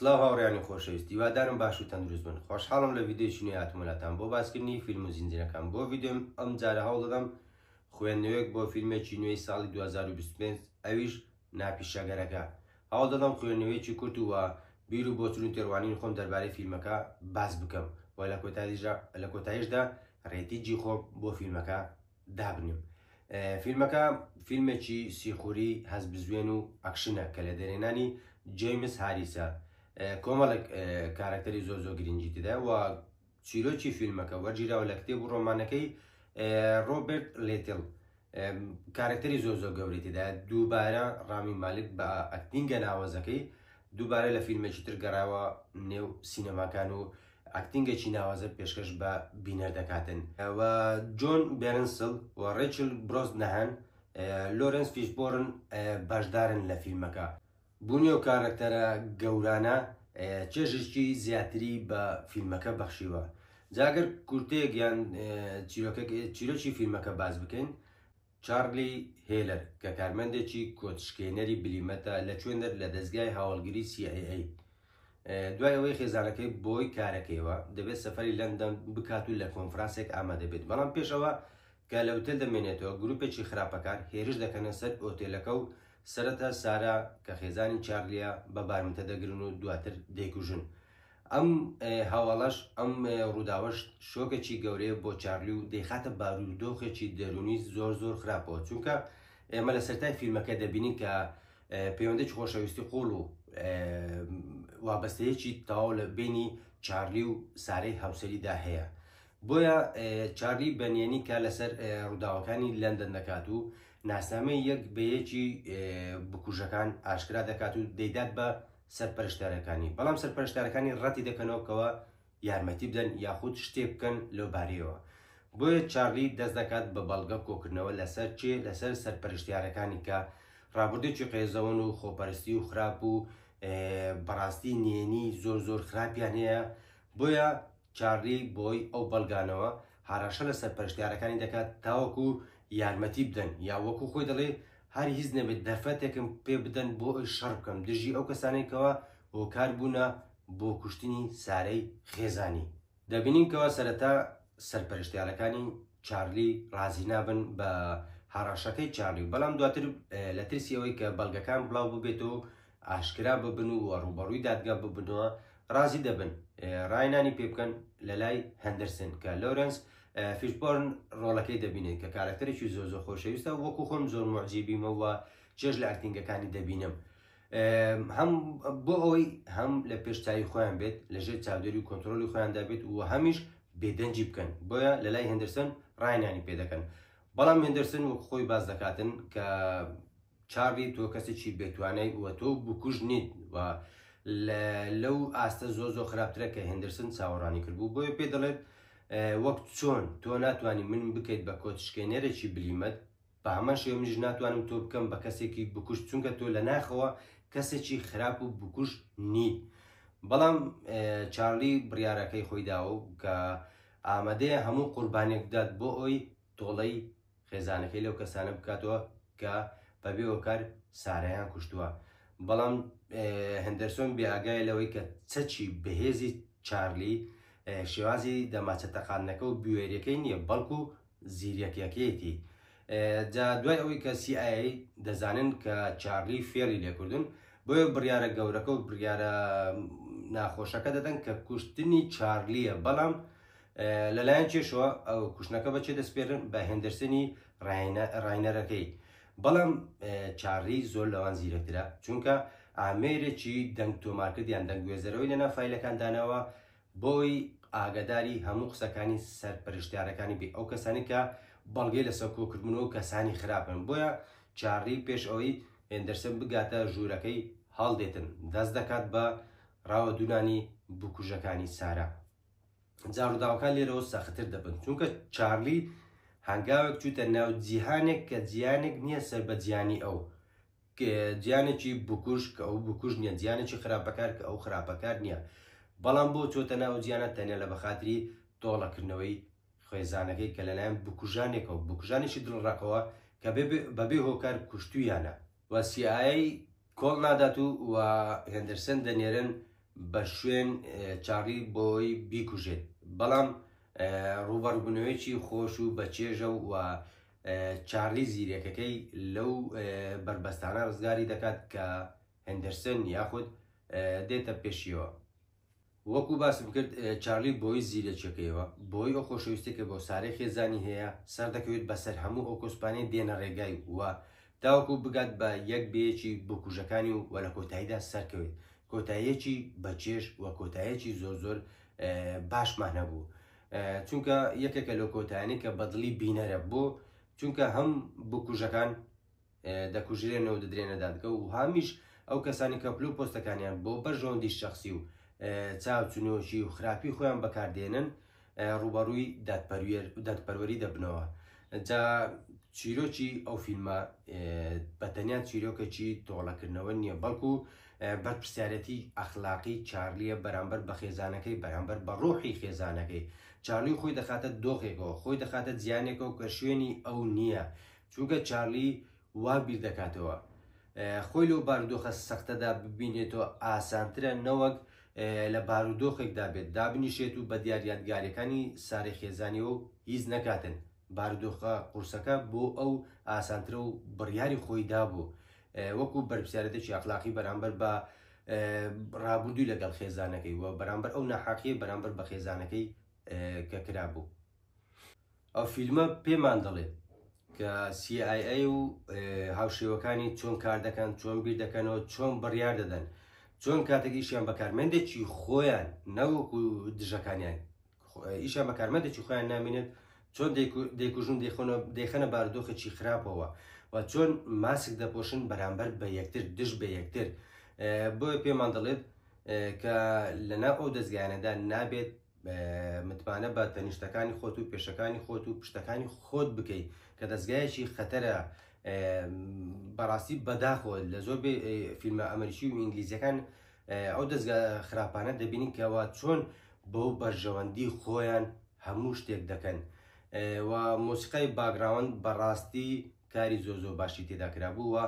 سلاو هاوڕیانی خۆشەویست دیوادارم باش و تەندروست بن خۆشحاڵم لە ڤیددیوی نوێ هاتموناتان بۆ باسکردنی فیلم و زیندرەکان بۆ ڤیددیوم ئەم جارە هەوڵدەم خوێندنەوەیەک بۆ فیلمێکی نوێی ساڵی 2025 ئەویش نا پیشەگەرەکە، هەوڵ دەدەم خوێندنەوەیەکی کورت و بیر و بۆچون و تێڕوانینی خۆم دەربارەی فیلمەکە باس بکەم و لە کۆتاییشدا لە کۆتاییشدا رێتیجی خۆم بۆ فیلمەکە دابنێم. فیلمەکە فیلمێکی سیخوری هەستبزوێن و ئەکشنە کە لە دەرێنانی جەیمس هاریسە کۆمەڵێک کارەکتەری زۆر زۆر گرنگی تێدایە و چیرۆکی فیلمەکە وەرگیراوە لە کتێب و ڕۆمانەکەی ڕۆبرت لێتل کارکتەری زۆر زۆر گەورەی تێدا دووبارە ڕامی مالک بە ئەکتینگە ناوەزەکەی دووبارە لە فیلمێکی تر گەڕاوە نێو سینەماکان و ئەکتینگێکی ناوازە پێشکەش بە بینەر دەکاتن و جۆن بێرنسل و ڕێچل برۆز نەهان لۆرنس فیشبۆرن بەشدارن لە فیلمەکە بوونی ئەو کارەکتەرە گەورانە چێژێکی زیاتری بە فیلمەکە بەخشیوە جاگەر کورتێک یان چیرۆکی فیلمەکە باز بکەین چارلی هێلەر کە کارمەندێکی کۆچشکێنەری بلیمەتە لە چێندەر لە دەستگای هاوڵگری CIA دوای ئەوەی خێزانەکەی بۆی کارەکەیەوە دەبێت سەفەری لەندەن بکات و لە کۆنفرانسێک ئامادە بێت بەڵام پێش ئەوە کە لە ئوتێل دەمێنێتەوە گروپێکی خراپەکار هێرش دەکەنە سەر ئۆتێلەکە و سەرەتا سارا کە خێزانی چارلیە بە بارمتە دەگرن و دواتر دەیکوژن ئەم هەواڵەش ئەم ڕووداوەش شۆکێکی گەورەیە بۆ چارلی و دەیخاتە بارودۆخێکی دەرونی زۆر زۆر خراپەوە چونکە ئێمە لە سەرای فیلمەکە دەبینین کە پەیوەندیی خۆشەویستی قووڵ و وابەستەیەکی تەواو لە بینی چارلی و سارەی هاوسەریدا هەیە بۆیە چارلی بەنیێنی کار لەسەر ڕووداوەکانی لەندەن دەکات و ناسنامەی یەک بەیەکی بکوژەکان ئاشکرا دەکات و دەیدات بە سەرپەرشتارەکانی بەڵام سەرپەرشتارەکانی ڕەتی دەکەنەوەکەوە یارمەتی بدەن یاخود شتێک بکەن لەو بارەیەوە. بۆیە چارلی دەست دەکات بە بەڵگە کۆکردنەوە لەسەر کێ؟ لەسەر سەرپەرشتیارەکانی کە ڕابردووێکی قێزەون و خۆپەرستی و خراپ و بەڕاستی نێنی زۆر زۆر خراپیان هەیە بۆیە چارلی بۆی ئەو بەڵگانەوە هاراشە لە سەرپەرشتیارەکانی دەکات تاوەکو یارمەتی بدەن یا وەکو خۆی دەڵێ هەر هیچ نەبێت دەرفەتێکم پێ بدەن بۆ ئەوی شەڕ بکەم دژی ئەو کەسانێکەوە هۆکار بوونە بۆ کوشتنی سارەی خێزانی. دەبینین کەوا سەرەتا سەرپەرشتیارەکانی چارلی ڕازی نابن بە هەڕەشەکەی چارلی، بەڵام دواتر لە ترسی ئەوەی کە بەڵگەکان بڵاو ببێتەوە ئاشکرا ببن و ڕوبەڕووی دادگا ببنەوە ڕازی دەبن ڕاینانی پێ بکەن لە لای هەندرسن کە لۆرنس فیشبۆرن ڕۆڵەکەی دەبینێت کە کارەکتەرێکی زۆر زۆر خۆشەویستە وەکو خۆم زۆر مۆجیبیمەوە چێژ لە ئەکتینگەکانی دەبینم هەم بۆ ئەوەی هەم لە پێش چاوی خۆیان بێت لە ژێر چاودێری و کۆنتترۆلی خۆیاندا بێت و هەمیش بێدەنجی بکەن بۆیە لە لای هندرسن ڕاینانی پێ دەکەن بەڵام هندرسن وەک خۆی باز دەکاتن کە چاڕی تۆ کەسێکی بێتوانای وە تۆ بکوژ نیت و لەو ئاستە زۆ زۆ خراپترە کە هندرسن چاوەڕانی کردبوو بۆیە پێ دەڵێت وەک چۆن تۆ ناتوانانی من بکەیت بە کۆچشکێنەرێکی بلیمەت بە هەمان شێوە منیش ناتوانم تۆ بکەم بە کەسێکی بکوشت چونکە تۆ لە ناخەوە کەسێکی خراپ و بکوشت نیت بەڵام چارلی بڕیارەکەی خۆی داوە و کە ئامادەیە هەموو قوربانێک بدات بۆ ئەوی تۆڵەی خێزانەکەی لەو کەسانە بکاتەوە کە بەبێ هۆکار سارایان کوشتووە بەڵام هەندەرسۆن بێئگای لەوەی کە چەچی بەهێزی چارلی شێوازی دەماچە تەقانەکە و بوێریەکەی نییە بەڵکو زیرەکیەکەیەتی جا دوای ئەوەی کە CIA دەزانن کە چارلی فێڵی لێکردن بۆیە بڕیارە گەورەکە و بڕیارە ناخۆشەکە دەدەن کە کوشتنی چارلیە بەڵام لەلایەن چێشەوە ئەو کوشتنەکە بەچێ دەستپێرن بە هێندرسنی ڕاینەرەکەی بەڵام چارلی زۆر لەوان زیرەکترە چونکە ئامێرێکی دەنگ تۆمارکردیان دەنگگوێزەرەوەی لە نافایلەکان داناوە بۆی ئاگاداری هەموو قسەکانی سەرپەرشتیارەکانی بی ئەو کەسانی کە بەڵگەی لەسەر کۆکردبوون و کەسانی خراپن بۆیە چارلی پێش ئەوەی هێندەرسن بگاتە ژوورەکەی هەڵدێتن دەست دەکات بە ڕاوە دوونانی بکوژەکانی سارا جاڕووداوەکان لێرەوە سەختتر دەبن چونکە چارلی هەنگاوێک چوتە ناو جیهانێک کە جیانێک نییە سەر بە جیانی ئەو جیانێکی بکوژ کە ئەو بکوژ نییە جیانێکی خراپەکار کە ئەو خراپەکار نییە بەڵام بۆ چۆتە ناو جیانە تەنیا لە بەخاتری تۆڵەکردنەوەی خێزانەکەی کە لەلایەن بکوژانێکەوە بکوژانێکی دڵڕەقەوە کە بەبێ هۆکار کوشتویانە و سیایی کۆڵ نادات و و هێندرسن دەنێرن بە شوێن چاڕی بۆی بیکوژێت بەڵام ڕوبەڕبوونەوەیکی خۆش و بەچێژە و چارلی زیرەکەکەی لەو بەربەستانە ڕزگاری دەکات کە هندرسن یاخود دێتە پێشیەوە وەکو باسم کرد چارلی بۆی زیرەکیەکەیەوە بۆی ئەو خۆشەویستی کە بۆ سارێ خێزانی هەیە سەر دەکەوێت بەسەر هەموو ئەو کۆسپانەی دێنە ڕێگای وە تاوەکو بگات بە یەک بەیەکی بکوژەکانی و وە لە کۆتاییدا سەرکەوێت کۆتاییەکی بەچێش وە کۆتایەکی زۆر زۆر باشمان هەبوو چونکە یەکێکە لەو کۆتایانی کە بەدڵی بینەرە بۆ چونکە هەم بکوژەکان دەکوژرێنەوە دەدرێنە دادگە و هامیش ئەو کەسانی کەپلو پۆستەکانیان بۆ بەرژەوەندی شخصی و چاوچنۆکی و خراپی خۆیان بەکاردێنن ڕوبەڕووی دادپەروێر و دادپەروەری دەبنەوە جا چیرۆکی ئەو فیلمە بەتەنیا چیرۆکەکی تۆڵەکردنەوە نییە بەڵکو بەرپرسیارێتی ئەخلاقی چارلییە بەرامبەر بە خێزانەکەی، بەرامبەر بە ڕۆحی خێزانەکەی. چارلی خۆی دەخاتە دۆخێکەوە، خۆی دەخاتە جیهانێکەوە کە شوێنی ئەو نییە، چونکە چارلی وا بیر دەکاتەوە خۆی لەو بارودۆخە سەختەدا ببینێتەوە ئاسانترە نەوەک لە بارودۆخێکدا بێت دابنیشێت و بە دیار یادگاریەکانی سارەی خێزانیەوە هیچ نەکاتن. بارودۆخە قورسەکە بۆ ئەو ئاسانترە و بڕیاری خۆی دابوو وەکو بەرپسیارەتێکی ئەخلاقی بەرامبەر بە ڕابردووی لەگەڵ خێزانەکەی و بەرامبەر ئەو ناحاقیە بەرامبەر بە خێزانەکەی کە کرا بوو ئەو فیلمە پێمان دەڵێت کە CIA و هاوشێوەکانی چۆن کار دەکەن چۆن بیر دەکەنەوە چۆن بڕیار دەدەن چۆن کاتێکیشیان بەکارمەندێکی خۆیان نەوەکو دژەکانیان ئیشە بەکارمەدەچی خۆیان نامێنێت چۆن دەیکوژن دەیخەنە باردۆخێکی خراپەوە و چۆن ماسک دەپۆشن بەرامبەر بە یەکتر دژ بە یەکتر بۆیە پێمان دەڵێت کە لەنا ئەو دەستگایانەدا نابێت متمانە بە تەنیشتەکانی خۆت و پێشەکانی خۆت و پشتەکانی خۆت بکەیت کە دەستگایەکی خەتەرە بەڕاستی بەداخۆ لە زۆر فیلمە ئەمریکی و ئینگلیزیەکان ئەو دەزگا خراپانە دەبینین کەوا چۆن بۆ بەرژەوەندی خۆیان هەموو شتێک دەکەن و مۆسیقای باگراوند بەڕاستی کاری زۆ زۆ باشی تێدا کرابوو و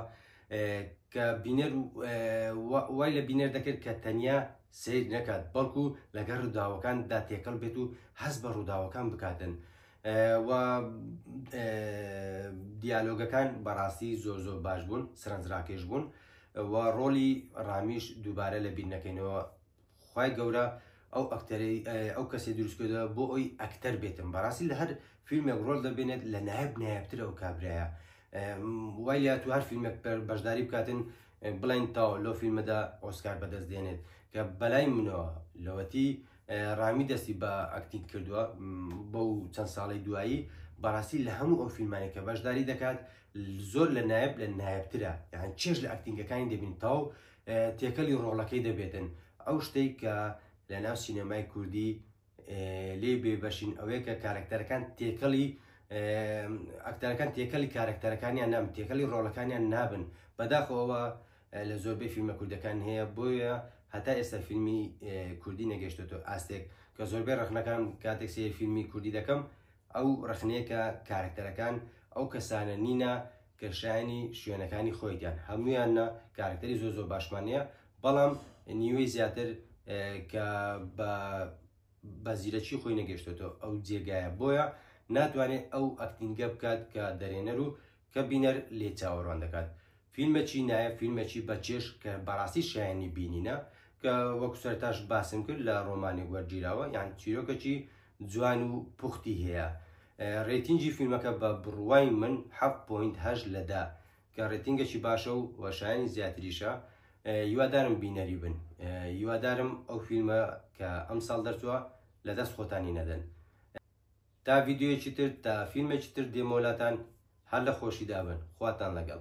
کە بینەر وای لە بینەر دەکرد کە تەنیا سیر نەکات بەڵکو لەگەر ڕووداوەکان دا تێکەڵ بێت و هەست بە ڕووداوەکان بکاتن و دیالۆگەکان بەڕاستی زۆر زۆر باش بوون سرنجراکێش بوون وە ڕۆڵی ڕامیش دووبارە لە بیر نەکەینەوە خوای گەورە ئەو ئەکتەرەی ئەو کەسی دروستکردە بۆ ئەوی ئەکتەر بێتم بەڕاستی لە هەر فیلمێک ڕۆل دەبێنێت لە نایب نایبترە و کابراە وای لە تو هەر فیلمێک بەشداری بکاتن بڵین تاو لۆ فیلمەدا ئۆسکار بەدەست دێنێت کە بەلای منەوە لەوەتی ڕامی دەستی بە ئەکتین کردووە بەو چەند ساڵی دوایی بەڕاستی لە هەموو ئەو فیلمانی کە بەشداری دەکات زۆر لە نایب لە نایبترە یان چێش لە ئەکتینگەکانی دەبین تاو تێکەلی ڕۆڵەکەی دەبێتن ئەو شتێک کە لە ناو سینەمای کوردی لێ بێ بەشین ئەوەیە کە کارکتەرەکان تێکەڵی ئەکتەرەکان تێکەلی کارکتەرەکانیان نام تێکەلی ڕۆڵەکانیان نابن بەداخەوە لە زۆربەی فیلمە کوردەکان هەیە بۆیە هەتا ئێستا فیلمی کوردی نەگەشتێتەوە ئاستێک کە زۆربەی ڕخنەکان کاتێک سێ فیلمی کوردی دەکەم ئەو ڕەخنەیە کە کارەکتەرەکان ئەو کەسانە نینە کە شایەنی شوێنەکانی خۆیتیان هەمویانە کارکتەری زۆ زۆ باشمانەیە بەڵام نیوەی زیاتر کە بە بە زیرەکی خۆی نەگەشتێتەوە ئەو جێگایە بۆیە ناتوانێت ئەو ئەکتینگە بکات کە دەرێنەر و کە بینەر لێی چاوەڕوان دەکات فیلمەکی نایە فیلمەکی بەچێش کە بەڕاستی شایانی بینینە کە وەکو سەرتاش باسم کرد لە ڕۆمانی وەرگیراوە یان چیرۆکەکی جوان و پوختی هەیە ڕێتینجی فیلمەکە بە بڕوای من هەش لەدا کە ڕێتینگەکی باشە و وەشایانی زیاتریشە یوادارم بینەری بن یوادارم ئەو فیلمە کە ئەم ساڵ دەرچووە لە دەست خۆتانی نەدەن تا ڤیدیۆیەکی تر تا فیلمێکی تر دێمەوە لاتان هەر لە خۆشیدا بن خواتان لەگەڵ.